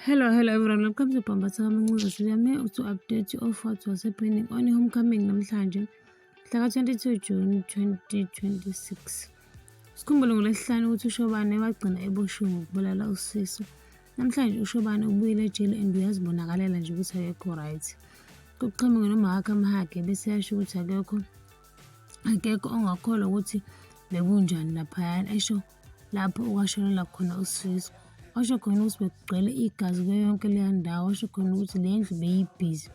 Hello, hello everyone. Welcome to Pambatha Mancuza. Siyame to update you of what was happening on homecoming namhlanje. Mhla 22 June 2026. Sikhumbule ngolesihlanu ukuthi uShobane wagcina eboshiwe ngokubulala usisu. Namhlanje uShobane ubuyile ejele and uyazibonakalela nje ukuthi akekho right. Kuqhamuke nomahakhe amhage bese yasho ukuthi akekho akekho ongakholwa ukuthi bekunjani laphayana esho lapho okwashonela khona usizo washo khona ukuthi bekugcwele igazi kuyo yonke leya ndawo washo khona ukuthi le ndlu beyibhizi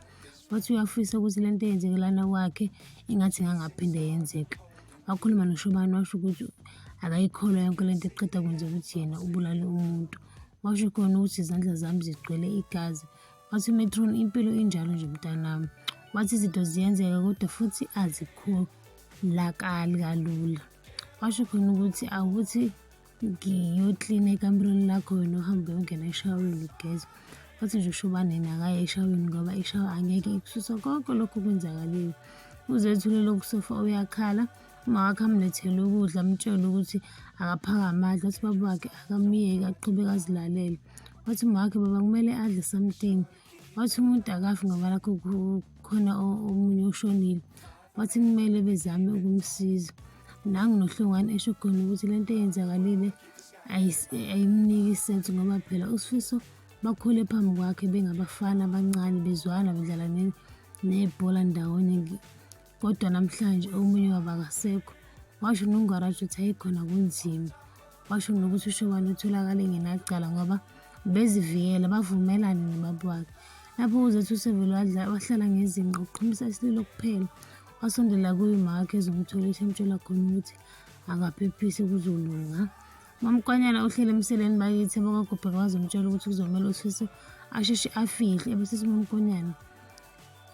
wathi uyafisa ukuthi le nto eyenzeke lana kwakhe ingathi ingangaphinde yenzeka wakhuluma noshobani washo ukuthi akayikholwa yonke le nto eqeda kwenza ukuthi yena ubulale umuntu washo khona ukuthi izandla zami zigcwele igazi wathi metron impilo injalo nje mntanami wathi izinto ziyenzeka kodwa futhi azikholakali kalula kwasho khona ukuthi awuthi ngiyoklina ekamerweni lakho wena uhambe uyongena eshaweni ugeza wathi nje usho uba nina akaye eshaweni ngoba ishawa angeke ikususe konke lokhu kwenzakalile uzethule lokhu sofa uyakhala uma wakhe amlethele ukudla amtshele ukuthi akaphakame adle wathi baba wakhe akamyeki aqhubeke azilalele wathi uma wakhe baba kumele adle something wathi umuntu akafi ngoba lakho khona omunye oshonile Wathi kumele bezame ukumsiza. Nangu noHlongwane esho khona ukuthi le nto eyenzakalile ayimniki isensi ngoba phela uSifiso bakhule phambi kwakhe bengabafana abancane bezwana bedlala nebhola ndawonye kodwa namhlanje omunye wabo akasekho washo nongwarashi ukuthi ayikhona kunzima washo nokuthi uShobane utholakale engenacala ngoba bezivikela bavumelane nobaba wakhe lapho uzethu usevele wahlala ngezinqa uqhumisa isililo kuphela wasondela kuye umakhe ezomtholisha emtshela khona ukuthi akaphephise kuzolunga Mamkwanyana uhleli emseleni bakithi abakagubheka wazomtshela ukuthi kuzomele uSisi asheshe afihle ebese simamkwanyana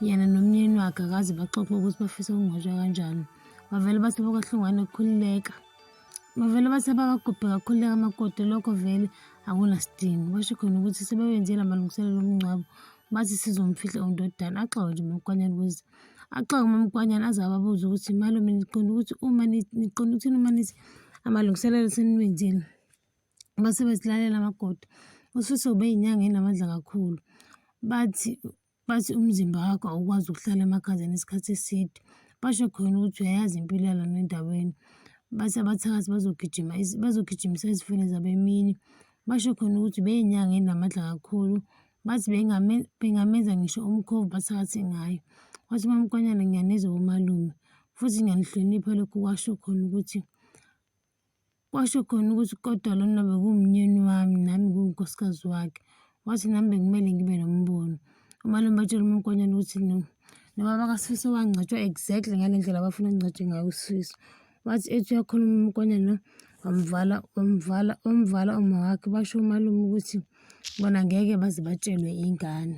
yena nomyeni wakhe akaze baxoxe ukuthi bafisa ukungcwatshwa kanjani bavele bathi bokahlongwane kukhululeka Bavele bathi abakagubhe kakhulu amakoti lokho vele akunasidingo. Basho khona ukuthi sebewenze lamalungiselelo omngcwabo bathi sizomfihla undodana axoke nje umamkwanyana ukuze axoke umamkwanyana aze ababuze ukuthi malume niqonda ukuthi uma niqonda ukuthini uma nithi amalungiselelo seniwenzile base besilalela amakoti usifiso ube yinyanga enamandla kakhulu bathi Bathi umzimba wakho awukwazi ukuhlala emakhazeni isikhathi eside. Basho khona ukuthi uyayazi impilo yalona endaweni. Bathi abathakathi bazogijima bazogijimisa izifune zabo emini. Basho khona ukuthi beyinyanga enamandla kakhulu. Bathi bengamenza ngisho umkhovu bathakathe ngayo. Wathi umamkonyana ngiyanizwa bomalume futhi ngiyanihlonipha lokhu kwasho khona ukuthi Kwasho khona ukuthi kodwa lona bekumnyeni wami nami ngiwunkosikazi wakhe. Wathi nami bekumele ngibe nombono. Umalume batshela umkhwenyana ukuthi no nobaba kaSifiso wangcwatshwa exactly ngale ndlela abafuna kungcwatshwe ngayo uSifiso. Wathi ethi uyakhuluma umkhwenyana wamvala wamvala wamvala uma wakhe basho umalume ukuthi bona ngeke baze batshelwe ingane.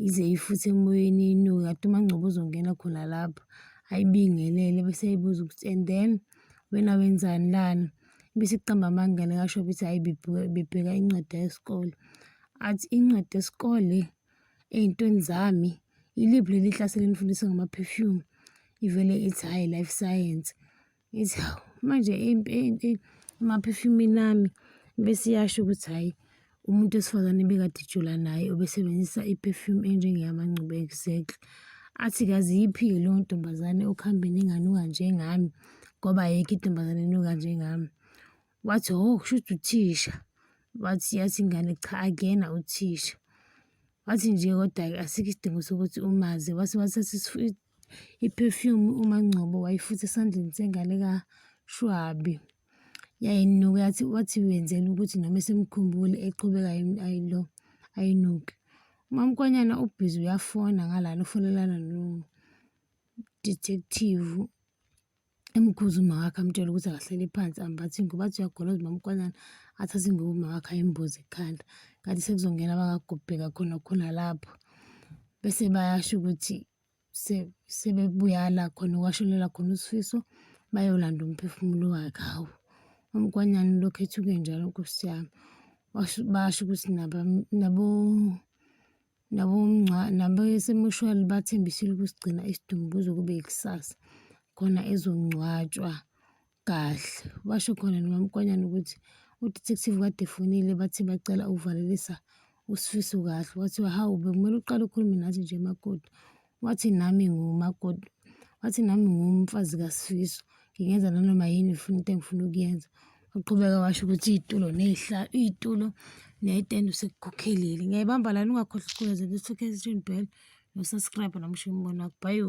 Yize ifuthe emoyeni inuke, kade uMangcobo uzongena khona lapho ayibingelele bese eyibuza ukuthi and then wena wenzani lana? Bese kuqamba amanga likasho ukuthi hhayi bebheka incwadi yesikole. Athi incwadi yesikole ey'ntweni zami iliphi leli hlase lenifundisa ngama-perfume? Ivele ithi hhayi life science. Ngithi hawu manje emaphefumini ami bese iyasho ukuthi hhayi umuntu wesifazane ebekade ejula naye obesebenzisa i-perfume enjengeyamangcubo exactly. Athi kazi iyiphi-ke leyo ntombazane okuhambeni enganuka njengami ngoba ayikho intombazane enuka njengami. Wathi, ho, oh, kusho ukuthi uthisha. Wathi, yathi ingane, cha, akuyena uthisha. Wathi nje kodwa-ke asikho isidingo sokuthi umazi. Wase wathatha i-perfume uMangcobo wayifutha esandleni sengane kaShwabi. Yayinuka yathi wathi wenzela ukuthi noma esemkhumbule eqhubeka ayilo ayinuke. UMamkwanyana ubhizi uyafona ngalana ufonelana no-detective Emkhuza umama wakhe amtshela ukuthi akahleli phansi ambathe ingubo athi uyagoloza umama uKwanana athathe ingubo umama wakhe ayimboze ekhanda kanti sekuzongena abakagubheka khona khona lapho bese bayasho ukuthi sebebuyala khona kwashelela khona uSifiso bayolanda umphefumulo wakhe hawu umkwanyana lokhu ethuke njalo nkosi yami basho ukuthi nabo nabesemushwali bathembisile ukusigcina isidumbu kuze kube ikusasa khona ezongcwatshwa kahle. Basho khona noMamkonyane ukuthi udetective kade efonile bathi bacela ukuvalelisa uSifiso kahle, kwathiwa hawu bekumele uqale ukhulume nathi nje makoti. wathi nami ngumakoti wathi nami ngumfazi kasifiso ngingenza nanoma yini funa into engifuna ukuyenza waqhubeka washo ukuthi iy'tulo ney'hla iy'tulo neyitende usekukhokhelile ngiyayibamba lani ungakhohlwa ukuculaza bese-okay bell nosubscribe namusho umbono wakho bhayo